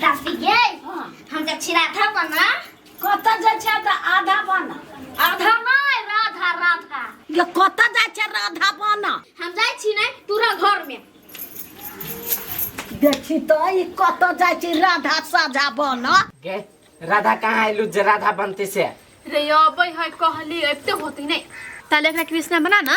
दस गे हम जब छिरा था बना कत जा छै त आधा बना आधा नहीं राधा राधा ये कत जा छै राधा बना हम जाय छी ने तोरा घर में देखी तो ई कत जा छै राधा साझा बना गे राधा कहाँ आयलू जे राधा बनते से रे अबै है कहली अबते होती नहीं ताले एकरा कृष्णा बना ना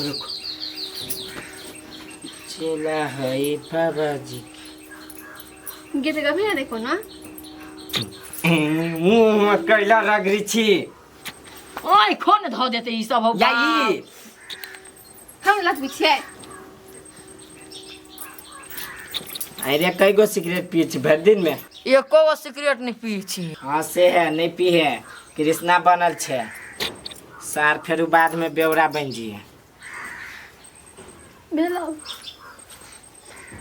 रुक चेला है बाबा जी के गीत गबी है देखो ना मुंह में कैला रगरी छी ओए खोन धो देते ई सब हो या ई हम लत बिछे अरे कई गो सिगरेट पी छी भर दिन में एको गो सिगरेट नहीं पी छी हाँ से है नहीं पी है कृष्णा बनल छे सार फेरू बाद में ब्यौरा बन जिए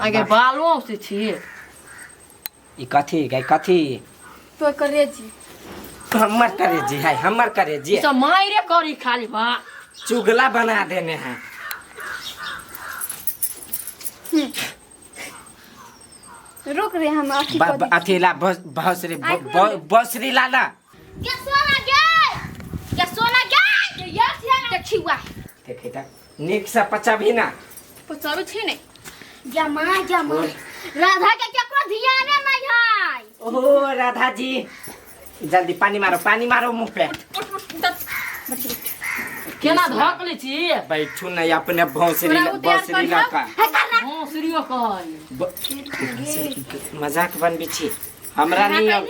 अगे बालो से छिए ई कथी गई कथी तो करे जी हमर करे जी है हमर करे जी ई सब मायरे करी खाली बा चुगला बना देने हैं रुक रे हम अथी ब- कर ब- अथी ला बस- बसरी ब- ब- बसरी लाला देखै त नेक सा पचा भी ना पचाबे छी ने जमा जमा राधा के केकरो ध्याने नहीं है ओ राधा जी जल्दी पानी मारो पानी मारो मुंह पे केना धक ले छी बैठू नहीं अपने भौसरी तोरा उतार भौसरी कर लगा है करना हां सूर्यो कहै ब- मजाक बनबी छी हमरा नहीं अब-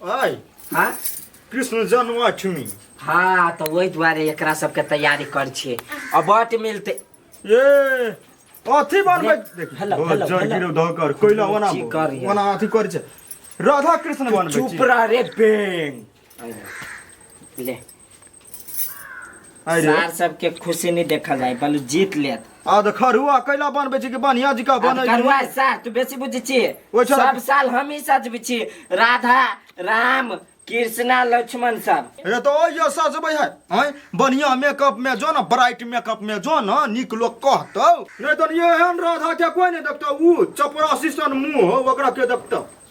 अय हाँ कृष्ण जन्माष्टमी हाँ तो वही दुआरे एकरा सबके तैयारी कर छे अब बट मिलते ए अथी बनबै देख हेलो, बहुत हेलो, जड़ हेलो। गिरौ धकर कोइला ओना की करियै? ओना अथी करै छै राधा कृष्ण बनबै चुप रह रे बेंग ले आइ रे सार सबके खुशी नहीं देखल जाए बलु जीत लेत आ त खरुआ कैला बनबै छी कि बढ़िया जिका अब बनै करुआ छी सार तू बेसी बुझी छी ओइ साल- सब साल हम ही सजबी छी राधा राम कृष्णा लक्ष्मण सब हे त ओ यो सजबै है हैं बढ़िया मेकअप में जो न ब्राइट मेकअप में जो न नीक लोग कहतौ नै त एहन राधा के कोई नै देखतौ ऊ चपरासी सन मुंह हौ ओकरा के देखतौ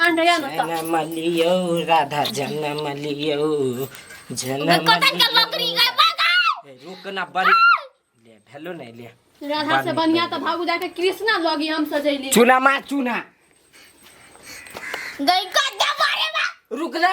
जनम लियो राधा जनम लियो जनम रुकना बड़ी ले भेलो नहीं ले राधा से बनिया तो भागू जाके कृष्णा लगी हम सजैली चुना मार चुना गई का दबारे रुक जा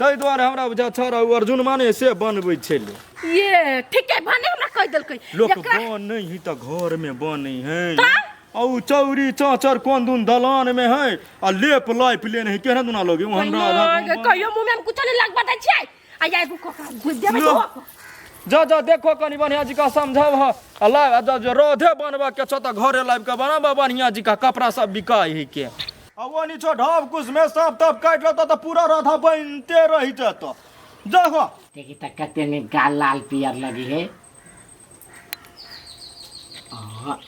ताहि दुआरे हमरा बुझा छौड़ा ओ अर्जुन माने से बनबै छलै ये ठीके भने हमरा कहि देलकै लोक एकरा बनै है तऽ घर में बनै है तऽ? आ उ चौरी चाचर कोन दुन दलान में है आ लेप लाइप लेने है केहन दुना लोगे ओ हमरा आधा ओहिना गाँव- कहियो मुंह में हम कुछ नहीं लगबा दै छियै आ या एगो कोका घुस देबै लो। तो जा जा देखो कनी बढ़िया जी का समझाव ह आ ला आ जा जो रोधे बनबा के छ त घरे लाइब के बनाबा बढ़िया जी का कपड़ा सब बिकाय है के अब वो नीचो ढब कुछ में सब तब काट लेता तो पूरा राधा बनते रही जाता देखो देखी त कते में गाल लाल पियर लगी है आहा,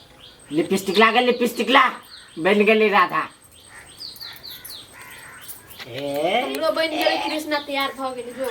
लिपस्टिक ला गए लिपस्टिक ला बन गई राधा ए हमरो बन गेल कृष्णा तैयार भ गेल जो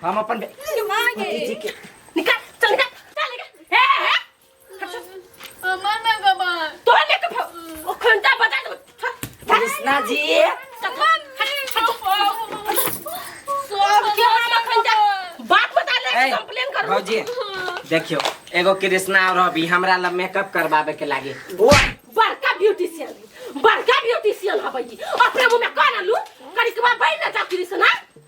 हम अपन बे- भतीजी के निकाल चल निकाल चल निकाल ए ए अमर ना बाबा तो ले के भाग। ओ खंडा बजा दो कृष्णा जी सब के हम खंडा बात बता ले ए, कंप्लेन कर भौजी देखियो एगो कृष्णा और अभी हमरा ला मेकअप करवावे के लागे बड़का ब्यूटिशियन बड़का ब्यूटिशियन हबई अपने मुंह में कान आलू करिकवा बैठ ना जा कृष्णा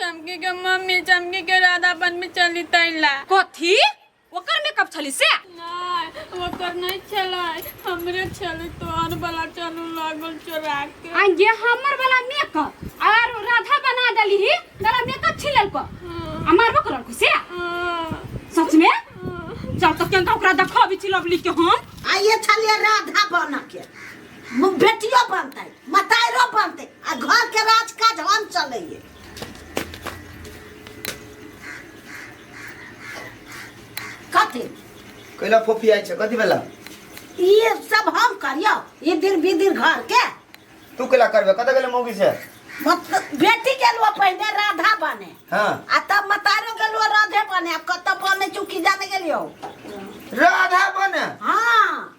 चमकी के मम्मी चमकी के राधा बन में चली तैला कथी ओकर मेकअप छली से नहीं ओकर नहीं चलाए हमरे चले तोहर वाला चलू लागल चोरा के आ ये हमर वाला मेकअप और राधा बना देली ही तोरा मेकअप छिलल को आ मारबो करल को से सच में चल तो केंका ओकरा देखा भी छिलब लिख के हम आइए छलिए राधा बन के म- बेटियो बनतै मताइरो बनतै आ घर के राज काज हम चलैये कथी कैला फोफी आइ छ कति बेला ये सब हम करियो ये दिन भी दिन घर के तू कैला करबे कतऽ गेले मौगी से मतलब बेटी गेलुआ पहिने राधा बने हाँ आ तब मतारो गेलुआ राधे बने आ कतऽ बने चुकी जाने गेलियो राधा बने हाँ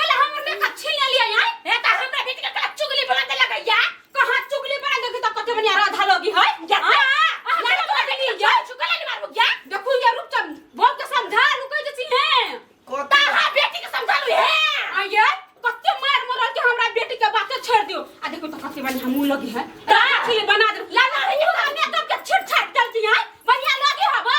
कल हमर में कच्छी ले लिया यार ए त हमरा बेटी के कला चुगली बना दे लगे या कहां चुगली बना दे त कते बनिया राधा लोगी है या हमरा तो बेटी के जा चुगली नहीं मारबो या देखू या रुक तुम बोल के समझा रुक जे छी है ता हा बेटी के समझा लू है आ ये कते मार मर के हमरा बेटी के बात छोड़ दियो आ देखो तो कते बनिया हमू लोगी है ता चुगली बना दे ला ना है हमरा में तो के छिट छाट चलती है बनिया लोगी हवा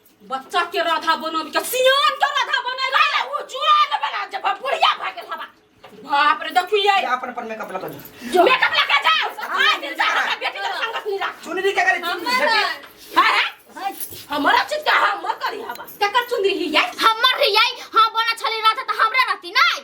बच्चा के राधा बनब के सियान के राधा बने रे वो जुआन बना जब बुढ़िया भा गेल हवा बाप रे देखिए ये अपन अपन मेकअप लगा दो मेकअप लगा जा आज दिन जा हमरा बेटी के संगत नहीं राख चुनरी के करे चुनरी हमारा झटे। हां हां हमारा चीज का हम करी हवा केकर चुनरी ही है हमर रियाई हां बना छली राधा त हमरा रहती नहीं